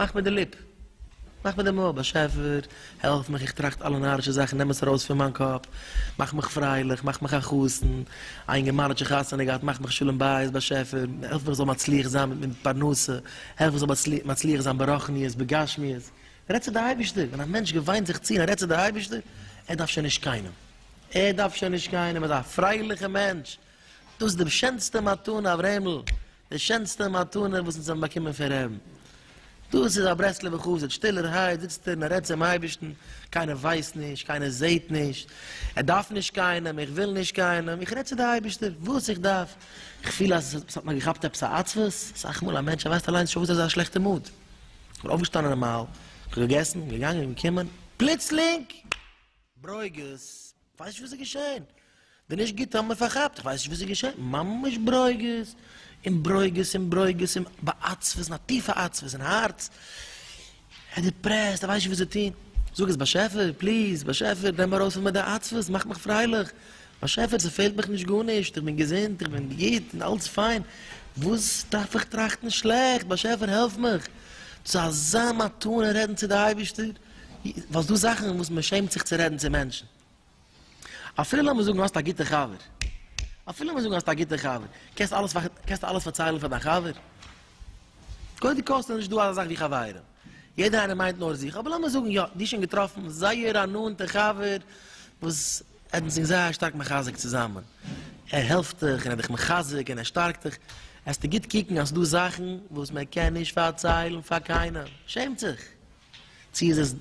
מאך מיט די ליפ. מאך מיט די מויל. באשעפער, העלף מיך, איך טראכט אלע נארישע זאכן, נעם עס ארויס פון מיין קאפ. מאך מיך פרייליך, מאך מיך א חתן. א אינגערמאן האט שוין חתונה געהאט, מאך מיך שלום בית. באשעפער, העלף מיך איך זאל מצליח זיין מיט מיט פרנסה. העלף איך זאל מצליח זיין ברחניות, בגשמיות. רעד צו די אייבישטער. ווען א מענטש געוויינט זיך צו און רעדט צו די אייבישטער, ער דארף שוין נישט קיינעם. ער דארף שוין נישט קיינעם. ער איז א פרייליכע מענטש. דאס איז די שענסטע מתנה, אברעמל. די שענסטע מתנה וואס אונז האבן באקומען פון רעבן. דאס איז א ברסלב'ע חסיד, שטילערהייט זיצט ער און ער רעדט צום אייבערשטן, קיינער ווייסט נישט, קיינער זעט נישט, ער דארף נישט קיינעם, איך וויל נישט קיינעם, איך רעד צו די אייבערשטער וואס איך דארף, איך פיל אז עס האט מיר געכאפט עפעס א עצבות, אסאך מאל א מענטש ער ווייסט אליינס נישט פארוואס ער איז אין א שלעכטע מוד, איך בין אויפגעשטאנען נארמאל, איך האב געגעסן, געגאנגען, געקומען, פלוצלינג! ברוגז! כ'ווייס נישט וואס איז געשען. די נישט גוטע האבן מיר פארכאפט, כ'ווייס נישט וואס איז געשען, ממש ברוגז, און ברוגז, און ברוגז, און בעצבות, א טיפע עצבות אין הארץ, ער איז דיפרעסט, ער ווייסט נישט וואס צו טון, זאג איך, באשעפער, פליז, באשעפער, נעם ארויס פון מיר די עצבות, מאך מיך פרייליך, באשעפער, ס'פעלט מיך נישט גארנישט, איך בין געזונט, איך בין גוט, און אלץ פיין, וואס דארף איך טראכטן שלעכט, באשעפער, העלף מיך! צו אזא מתנה רעדן צו די אייבערשטער? וואס דא זאכן וואס מען שעמט זיך צו רעדן צו מענטשן. אפילו לאמיר זאגן האסט א גוטע חבר, אפילו לאמיר זאגן האסט א גוטע חבר, קענסט אלעס קענסטו אלעס פארציילן פאר דיין חבר? קודם כל ס'נישט דא אזא זאך ווי חברים, יעדער איינער מיינט נאר זיך, אבער לאמיר זאגן יא, דו שוין געטראפן זייער א נאנטע חבר וואס ער האט זיך זייער שטארק מחזק צוזאמען, ער העלפט דיך און ער האט דיך מחזק און ער שטארקט דיך, עסטו גוט קוקן אז ס'דא זאכן וואס מען קען נישט פארציילן פאר קיינעם, שעמט זיך. צי איז עס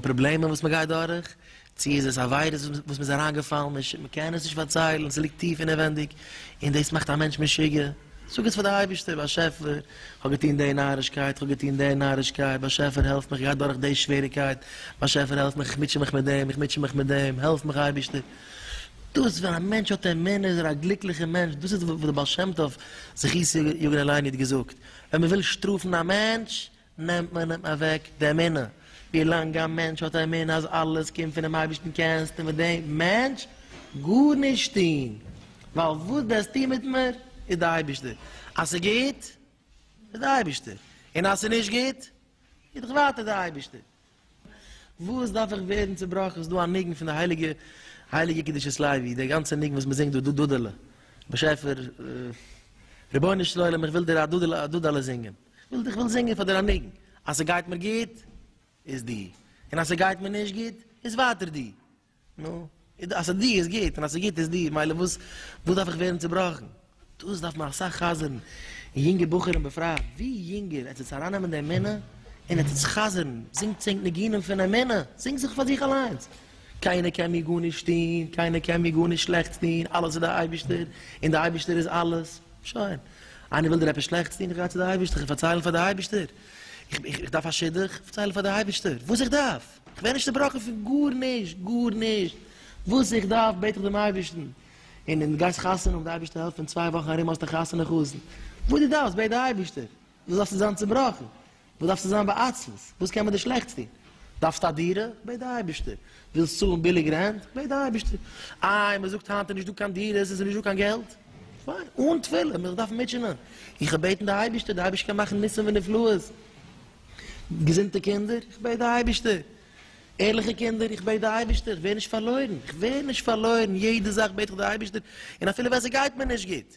פראבלעמען וואס מ'גייט דורך, צי איז עס עבירות וואס מ'איז אריינגעפאלן, מ'קען עס נישט פארציילן, ס'ליגט טיף אינעווענדיג, און דאס מאכט א מענטש משוגע. זאג עס פאר די אייבערשטער, באשעפער, כ'האב געטון די נארישקייט, כ'האב געטון די נארישקייט, באשעפער העלף מיך, כ'גיי דורך די שוועריקייט, באשעפער העלף מיך, איך מוטשע מיך מיט דעם, איך מוטשע מיך מיט דעם, העלף מיך אייבערשטער. דאס ווען א מענטש האט אמונה איז ער א גליקליכער מענטש, דאס איז וואס דער בעל שם טוב זכותו יגן עלינו האט געזאגט, ווען מ'וויל שטראפן א מענטש, נעמט מען אים אוועק די אמונה. ווי לאנג א מענטש האט אמונה אז אלעס קומט פונעם אייבערשטן קענסטו מיט דעם מענטש גארנישט טון, ווייל וואס וועסטו מיט מיר איז די אייבערשטער, אז ס'איז גוט איז די אייבערשטער, און אז ס'איז נישט גוט איז דאך ווייטער די אייבערשטער. וואס דארף איך ווערן צובראכן? ס'איז דא א ניגון פון די הייליגע הייליגע קדושת לוי, דער גאנצער ניגון וואס מ'זינגט דא, דוד'עלע באשעפער רבונו של עולם איך וויל דיר א דוד'עלע זינגען. כ'וויל דיך וויל זינגען פאר דיר א ניגון אז ס'גייט מיר גוט איז דו און אז ס'גייט מיר נישט גוט איז ווייטער דו נו אז ס'דו איז גוט און אז ס'איז גוט איז דו מילא וואס וואס דארף איך ווערן צובראכן דאס דארף מען אסאך חזר'ן יונגע בחורים בפרט ווי יונגער עטס וועטס ארייננעמען די אמונה און עטס וועטס חזר'ן זינגטס ענק ניגונים פון אמונה זינגטס זיך פאר זיך אליינס קיינער קען מיר גארנישט טון, קיינער קען מיר גארנישט שלעכטס טון, אלעס איז די אייבערשטער, און די אייבערשטער איז אלעס. שוין. איינער וויל דיר עפעס שלעכטס טון, איך גיי צו די אייבערשטער, איך וועל פארציילן פאר די אייבערשטער. איך דארף א שידוך, איך פארצייל פאר די אייבערשטער וואס איך דארף, איך ווער נישט צעבראכן פון גארנישט, גארנישט, וואס איך דארף בעט איך דעם אייבערשטן. און און דו גייסט חתונה האבן, די אייבערשטער העלפט, אין צוויי וואכן ארום האסטו חתונה חתן. וואס דו דארפסט בעט די אייבערשטער. וואס דארפסטו זיין צובראכן? וואס דארפסטו זיין בעצבות? וואס קען מען דיר שלעכטס טון? דארפסט א דירה? בעט די אייבערשטער. ווילסט צאלן ביליג רענט? בעט די אייבערשטער. איי, מען זאגט היינט איז נישט דא קיין דירות, עס איז נישט דא קיין געלט. פיין, אן תפילה, מען זאל דארפן מוטשענען. איך וועל בעטן די אייבערשטער, די אייבערשטער קען מאכן ניסים ונפלאות. געזונטע קינדער? איך בעט די אייבערשטער. ערליכע קינדער? איך בעט די אייבערשטער. איך ווער נישט פארלוירן. איך ווער נישט פארלוירן. יעדע זאך בעט איך די אייבערשטער. און אפילו ווען ס'גייט מיר נישט גוט.